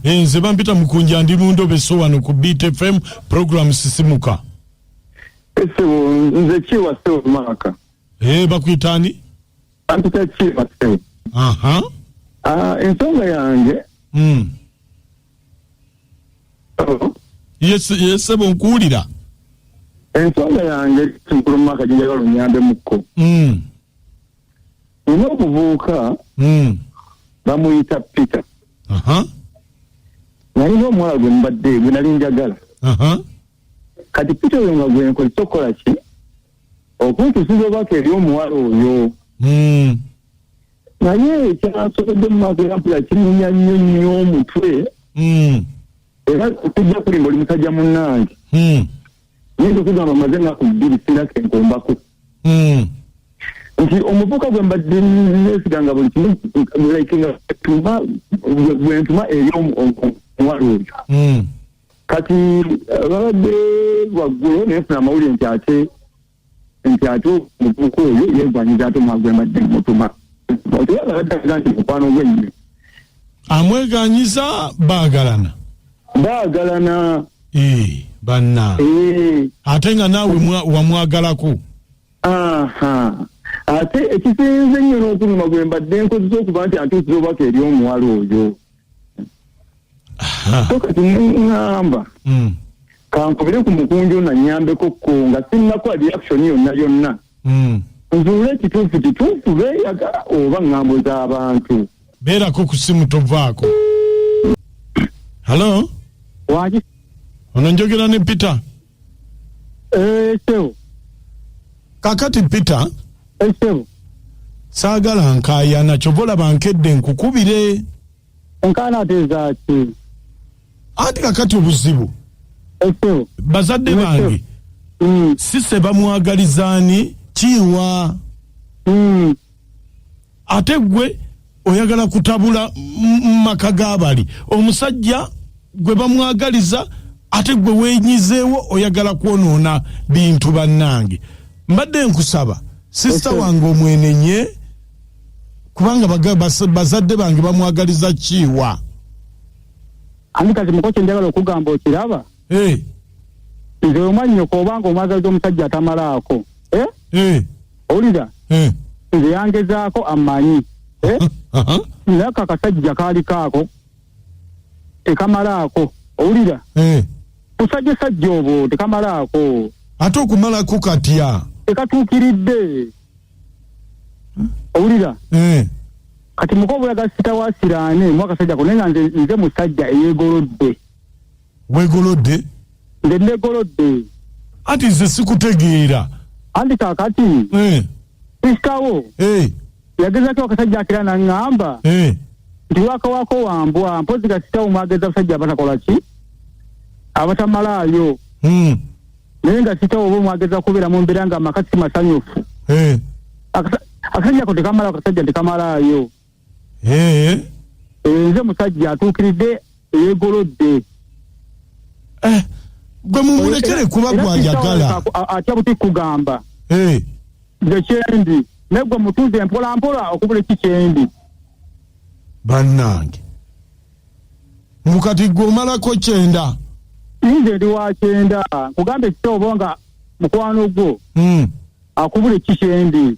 nze bampita mukunja ndi mu ndobe so wano ku btfm program sisimuka esebo nze kiwa sebo maaka ee bakuyita ani bampita kiwa sebo aha ah, ensonga yange mm. yesebo nkuwulira ensonga yange nkulu mu maka ginjala lunyambe mukko mm. nina omuvubuka mm. bamuyita peter nalina omuwala gwe mubadde gwe nali njagala kati peter oyo nga gwenkozesa okukola ki okuntusiza obubaka eri omuwala oyo hmm. naye ekyasobodde mu maaso era mpula kimunya nnyo nnyo omutwe hmm. era okujja kulimba oli musajja munnange hmm. naye ndikugamba maze enaku bbiri sirake nkombako nti omuvuka gwe mbadde nesiga nga buli kimu like nga tuma gwentuma eri omuwala oyo kati eh, babadde waggulu naye funa amawulire nti ate nti ate omuvubuka oyo yegwanyiza ate omwagwembadde mutuma otiwabaddaga nti mukwano gwennyo amweganyiza baagalana baagalana eh, banna eh. ate nga naawe wamwagalako ate ekisinze nnyo n'okunuma gwe mbadde nkozesa okuba nti antuusiza obubaka eri omuwala oyo so kati neŋŋamba Mm. kankubire ku mukunju nanyambeko ko nga sinnakola reaction yonna yonna Mm. nzuule ekituufu kituufu beeyagala oba ŋŋambo z'abantu beerako ku simu tovaako halo waki ono njogera ne peter Eh, ssebo kakati peter eh, ssebo saagala nkaayana kyova olaba nkedde nkukubire enkaana ateeza ki anti kakati obuzibu Eh, ssebo bazadde Yes, sir. bange Mm, sise bamwagalizaani kiwa mm. ate gwe oyagala kutabula maka gabali omusajja gwe bamwagaliza ate gwe wenyizeewo oyagala kwonoona bintu bannange mbadde nkusaba sisita wange omwenenye kubanga bazadde bange bamwagaliza kiwa ani kati mukoki njagala okugamba okiraba eh. nze omwanyoko obanga omwagaza omusajja atamalaako eh? eh. owulira eh. nze yangezaako amanyi eh? naye kakasajja kaali kaako tekamalaako owulira eh. kusajja sajja obwo tekamalaako ate okumalako katya tekatuukiridde hmm? owulira eh. kati muka obulaga sita wa siraane mwakasajja ko naye nga nze musajja eyeegolodde wegolodde nze negolodde anti nze sikutegeera anti kakati eh. sisitawo hey. Eh. yagezako akasajja akira naŋŋamba hey. Eh. nti wakawako wambwa mpozi ga sitawo mwageza abasajja abatakola ki abatamalaayo mm. naye nga sitawo oba omwageza kubeera mu mbeera nga amaka si masanyufu hey. akasajja ko tekamala akasajja tekamalayo Eh. nze musajja atuukiridde eyeegolodde eh, gwe mumulekere kuba gwayagala atya buti kugamba eh. nze kyendi naye gwe mutuuze mpola mpola okubula eki kyendi bannange mukati gwe omalako kyenda nze ndi wa kyenda nkugamba ekitoobo nga mukwano gwo hmm. akubula eki kyendi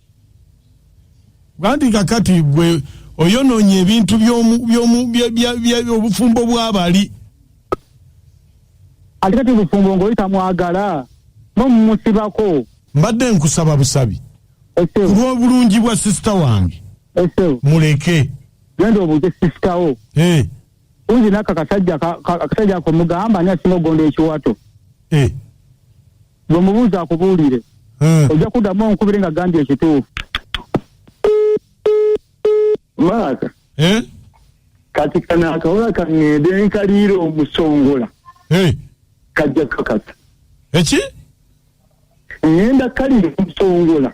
Gandi kakati gwe oyononye ebintu byomu byomu byobufumbo bwabali. Alikati bufumbo ngo ita mwagala no musibako. Mbadde nkusaba busabi. Ese. Kulwa bulungi bwa sister wange. Ese. Muleke. Gendo obuje sister wo. Eh. Hey. Kunzi naka kasajja kasajja ako mugamba ani asinga ogonda ekiwato. Eh. Gwe mubuuza akubuulire. Eh. Ojja kuddamu onkubire nga gambye ekituufu. Maaka. Eh? Kati kana akawola kang'ende nkaliira omusongola. Eh. Kajja kakata. Eki? Ng'enda kalira omusongola.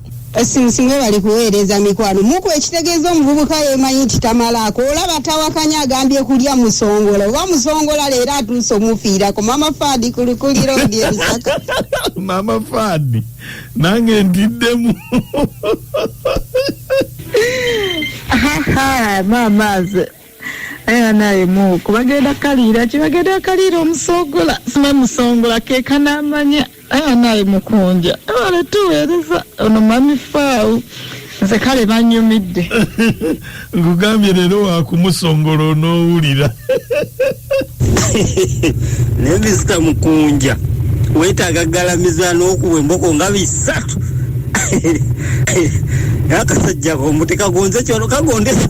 Sinsi mwebali kuweereza mikwano muku ekitegeeza omuvubuka yemanyi nti tamalaako olaba tawakanya agambye kulya musongola oba musongola leero atuuse omufiirako mama fadi kulukulira odi emisaka mama fadi nange ntiddemu era naye muku bagenda kaliira ki bagenda kaliira omusongola sima musongola keka namanya era naye mukunja ebale tuweereza ono mami faawu nze kale banyumidde nkugambye leero wakumusongola onoowulira naye misita mukunja wetaaga galamiza n'okuwa emboko nga bisatu akasajja komuteka gonze kyolo kagondesa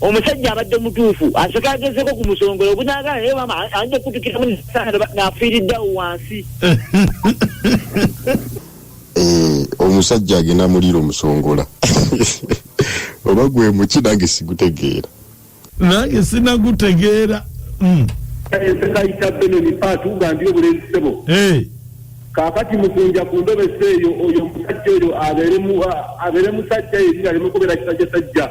omusajja abadde mutuufu aseka agezeko ku musongola ogunaagala naye mama ayinza okukutukiramu nafiiriddawo wansi eh, omusajja agenda muliira omusongola oba gwe muki nange sigutegeera nange sinagutegeera hmm. esekayita eh, benoni paatugambye obulenzi sebo eh. kakati mukunja ku ndobesa eyo oyo omusajja oyo abeere musajja yeri alemukubera kisajjasajja